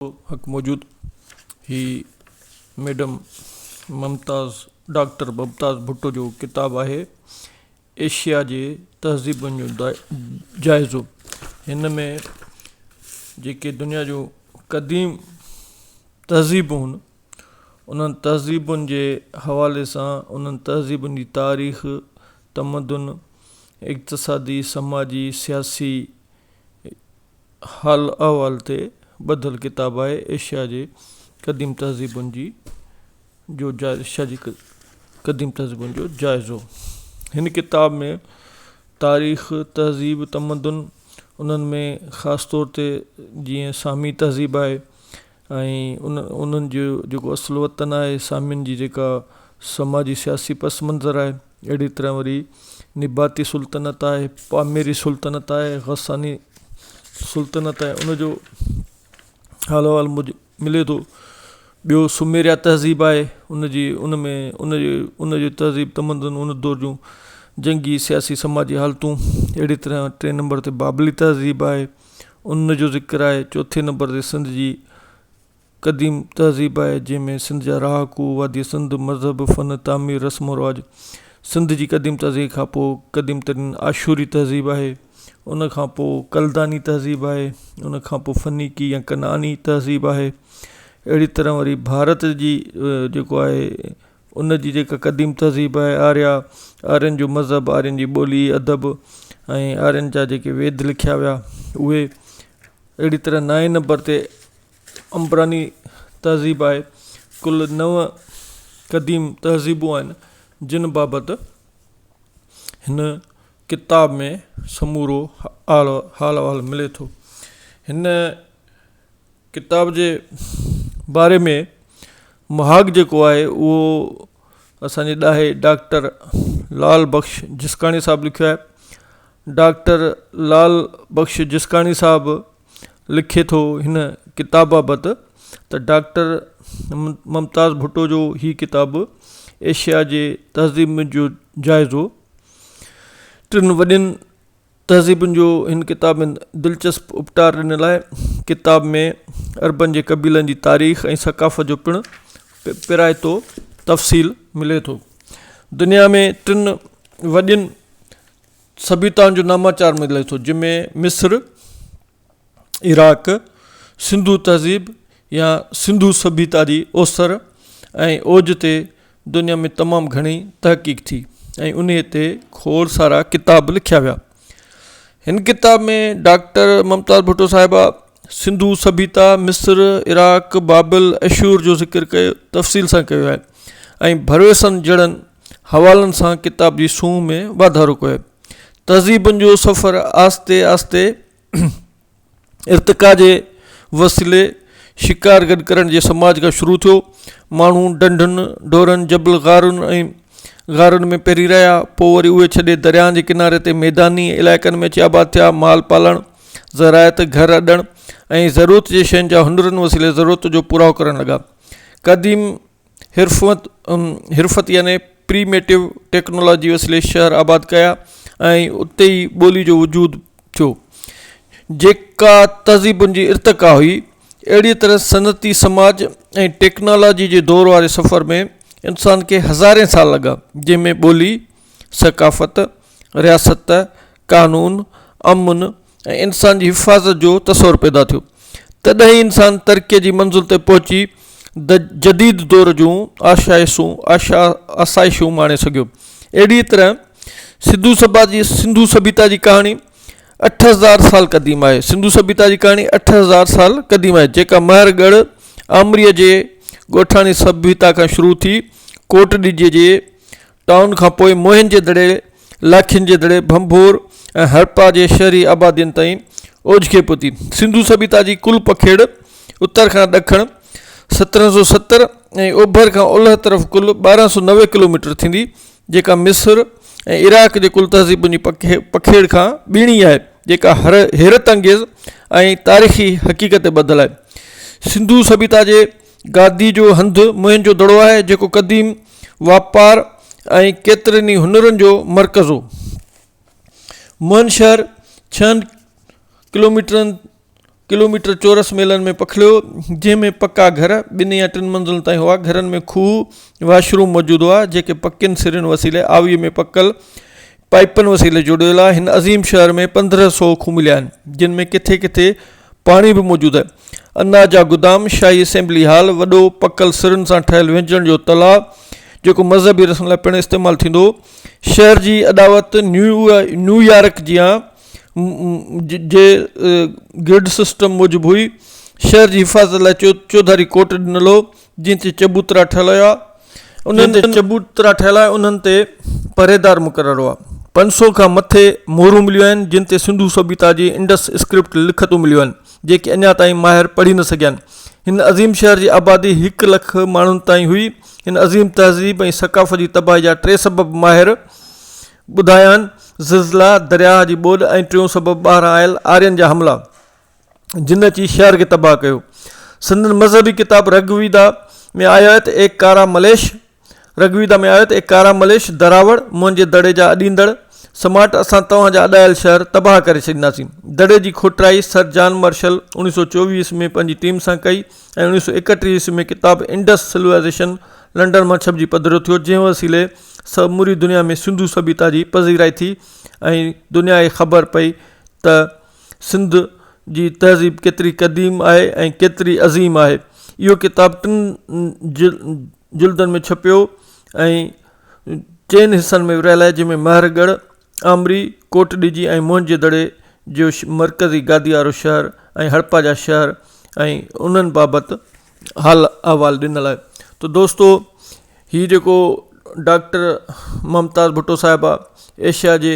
حق موجود هي ميڊم ممتاز ڊاڪٽر ممتاز ڀٽو جو ڪتاب آهي ايشيا جي تهذيبن جو جائزو هن ۾ جيڪي دنيا جو قديم تهذيبون هن انهن تهذيبن جي حوالي سان انهن تهذيبن جي تاريخ تمدن اقتصادي سماجي سياسي حال احوال تي ٻڌل ڪتاب آهي ايشيا جي قديم تهذيبن جي جو ايشيا جي قديم تهذيبن جو جائزو هن ڪتاب ۾ تاريخ تهذيب تمدن انهن ۾ خاص طور تي جيئن سامي تهذيب آهي ۽ انهن جو جيڪو اصل وطن آهي سامين جي جيڪا سماجي سياسي پس منظر آهي اهڙي طرح وري نباتي سلطنت آهي پاميري سلطنت آهي غساني سلطنت آهي ان جو حال احوال موجب ملي ٿو ٻيو سميريا تهذيب آهي ان جي ان ۾ ان جي ان جي تهذيب تمدن ان دور جون جنگي سياسي سماجي حالتون اهڙي طرح ٽي نمبر تي بابلي تهذيب آهي ان جو ذڪر آهي چوٿين نمبر تي سنڌ جي قديم تهذيب آهي جنهن ۾ سنڌ جا رهاڪو وادي سنڌ مذهب فن تعمير رسم و رواج سنڌ جي قديم تهذيب کان پوء قديم ترين آشوري تهذيب آهي ان کان پوء ڪلداني تهذيب آهي ان کان پوء فنيڪي يا ڪنعاني تهذيب آهي اهڙي طرح وري ڀارت جي جيڪو آهي ان جي جيڪا قديم تھذيب آھي آريا، آرين جو مذھب، آرين جي ٻولي، ادب ۽ آرين جا جيڪي ويد لکيا ويا اھي اھڙي طرح نائين نمبر تي عمبراني تھذيب آھي ڪل نو قديم تھذيبون آھن جن بابت ھن ڪتاب ۾ سمورو حال و احوال ملي ٿو ھن ڪتاب جي باري ۾ مهاڳ جيڪو آهي اهو اسانجي ڏاهي ڊاڪٽر لعل بخش جسڪاڻي صاحب لکيو آهي ڊاڪٽر لعل بخش جسڪاڻي صاحب لکي ٿو هن ڪتاب بابت ته ڊاڪٽر ممتاز ڀٽو جو هي ڪتاب ايشيا جي تهذيب جو جائزو ٽن وڏين تهذيبن جو هن ڪتاب ۾ دلچسپ اپٽار ڏنل آهي. ڪتاب ۾ عربن جي قبيلن جي تاريخ ۽ ثقافت جو پڻ پرايتو تفصيل ملي ٿو. دنيا ۾ ٽن وڏين سڀيتائن جو ناماچار ملي ٿو جنهن ۾ مصر، عراق، سنڌو تهذيب يا سنڌو سڀيتا جي اوسر ۽ اوج تي دنيا ۾ تمام گهڻي تحقيق ٿي ۽ انهي تي کوڙ سارا ڪتاب لکيا ويا هن ڪتاب ۾ ڊاڪٽر ممتاز ڀٽو صاحبه سنڌو سڀيتا مصر عراق بابل اشور جو ذڪر ڪيو تفصيل سان ڪيو آهي ۽ ڀروسن جڙن حوالن سان ڪتاب جي سونهن ۾ واڌارو ڪيو آهي. تهذيبن جو سفر آهستي آهستي ارتقا جي وسيلي شڪار گڏ ڪرڻ جي سماج کان شروع ٿيو. ماڻهو ڍنڍن، ڍورن، جبل غارن ۽ غارن ۾ پري رهيا پوء وري اهي ڇڏي درياهن جي ڪناري تي ميداني علائقن ۾ اچي آباد ٿيا. مال پالڻ، زراعت، گهر اڏڻ ۽ ضرورت جي شين جا هنرن وسيلي ضرورت جو پورائو ڪرڻ لڳا. قديم حرفت يعني Primitive Technology وسيلي شهر آباد ڪيا ۽ اتي ئي ٻولي جو وجود ٿيو جيڪا تهذيبن جي ارتقا هئي اهڙي طرح صنعتي سماج ۽ ٽيڪنالاجي جي دور واري سفر ۾ انسان کي هزارين سال لڳا جنهن ۾ ٻولي ثقافت رياست قانون امن ۽ انسان جي حفاظت جو تصور پيدا ٿيو تڏهن ئي انسان ترقيء جي منزل تي پهچي د جديد دور جون آشائشون آشا آسائشون ماڻي سگهيو اهڙيء طرح سنڌو سڀا جي سنڌو سڀيتا جي ڪهاڻي اٺ هزار سال قديم آهي سنڌو سڀيتا جي ڪهاڻي اٺ هزار سال قديم آهي جيڪا مهر ڳڙهه آمريء جي ڳوٺاڻي سڀيتا کان شروع ٿي ڪوٽ ڏجي جي ٽائون کان پوء موهن جي دڙي، لاکين جي دڙي، ڀنڀور ۽ هڙپا جي شهري آبادين تائين اوجڪي پهتي. سنڌو سڀيتا جي ڪل پکيڙ اتر کان ڏکڻ سترهن سؤ ستر ۽ اوڀر کان اولهه طرف ڪل ٻارهن سؤ نوي ڪلوميٽر ٿيندي جيڪا مصر ۽ عراق جي ڪل تهذيبن جي پکيڙ کان ٻيڻي آهي جيڪا حيرت انگيز ۽ تاريخي حقيقت تي ٻڌل آهي. سنڌو سڀيتا جي گادي جو هنڌ موهن جو دڙو آهي جيڪو قديم واپار ۽ ڪيترن ئي هنرن جو مرڪز هو موهن شهر ڇهن ڪلوميٽرن ڪلوميٽر چورس ميلن ۾ پکڙيو جنهن ۾ پڪا گهر ٻن يا ٽن منزلن تائين هئا گهرن ۾ کوهه واش روم موجود هئا جيڪي پڪين سرن وسيلي آوي ۾ پڪل پائپن وسيلي جڙيل آهن هن عظيم شهر ۾ پندرهن سو کوهه مليا آهن جن ۾ ڪٿي ڪٿي پاڻي به موجود آهي. اناج جا گدام، شاهي اسيمبلي هال، وڏو پڪل سرن سان ٺهيل وهنجڻ جو تلاء، جيڪو مذهبي رسن لاء پڻ استعمال ٿيندو هو، شهر جي اڏاوت نيويارڪ جيان جي گرڊ سسٽم موجب هئي، شهر جي حفاظت لاء چوڌاري ڪوٽ ڏنل هو، جن تي چبوترا ٺهيل هيا انهن تي چبوترا ٺهيل آهي انهن تي پهريدار مقرر هئا پنج سؤ کان مٿي مورون مليون آهن جن تي سنڌو سڀيتا جي انڊس اسڪرپٽ لکتون مليون آهن جيڪي اڃا تائين ماهر پڙهي نه سگهيا آهن هن عظيم شهر جي آبادي هڪ لک ماڻهن تائين هئي هن عظيم تهذيب ۽ ثقافت جي تباهي جا ٽي سبب ماهر ٻڌايا آهن زلزلا درياهه جي ٻوڏ ۽ ٽيون سبب ٻاهران آيل آرين جا حملا جن اچي شهر کي تباهه ڪيو. سندن مذهبي ڪتاب رگ ويدا ۾ آيو آهي ته اي ڪارا مليش رگ ويدا ۾ آيو آهي ته اي ڪارا مليش دراوڙ منهنجي دڙي جا اڏيندڙ سماٽ اسان توهان جا اڏايل شهر تباهه ڪري ڇڏينداسين. دڙي جي کوٽرائي سر جان مرشل اوڻيهه سؤ چوويهه عيسوي ۾ پنهنجي ٽيم سان ڪئي ۽ اوڻيهه سؤ ايڪٽيهه عيسوي ۾ ڪتاب انڊس سلوائيزيشن لنڊن مان ڇپجي پڌرو ٿيو جنهن وسيلي سموري دنيا ۾ سنڌو سڀيتا جي پذيرائي ٿي ۽ دنيا کي خبر پئي ته سنڌ جي تهذيب ڪيتري قديم آهي ۽ ڪيتري عظيم آهي اهو ڪتاب ٽن جلدن ۾ ڇپيو ۽ چئن حصن ۾ ورهايل آهي جنهن ۾ مهر ڳڙهه آمري ڪوٽ ڏجي ۽ موهنجي دڙي جو مرڪزي گادي وارو شهر ۽ هڙپا جا شهر ۽ انهن بابت حال احوال ڏنل آهي ته دوستو هي جيڪو ڊاڪٽر ممتاز ڀٽو صاحب آهي ايشيا جي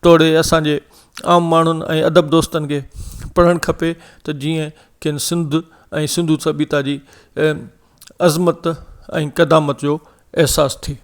توڙي اسان جي عام ماڻهن ۽ ادب دوستن کي پڙهڻ کپي ته جيئن کين سنڌ ۽ سنڌو سڀيتا جي عظمت ۽ قدامت جو احساس ٿئي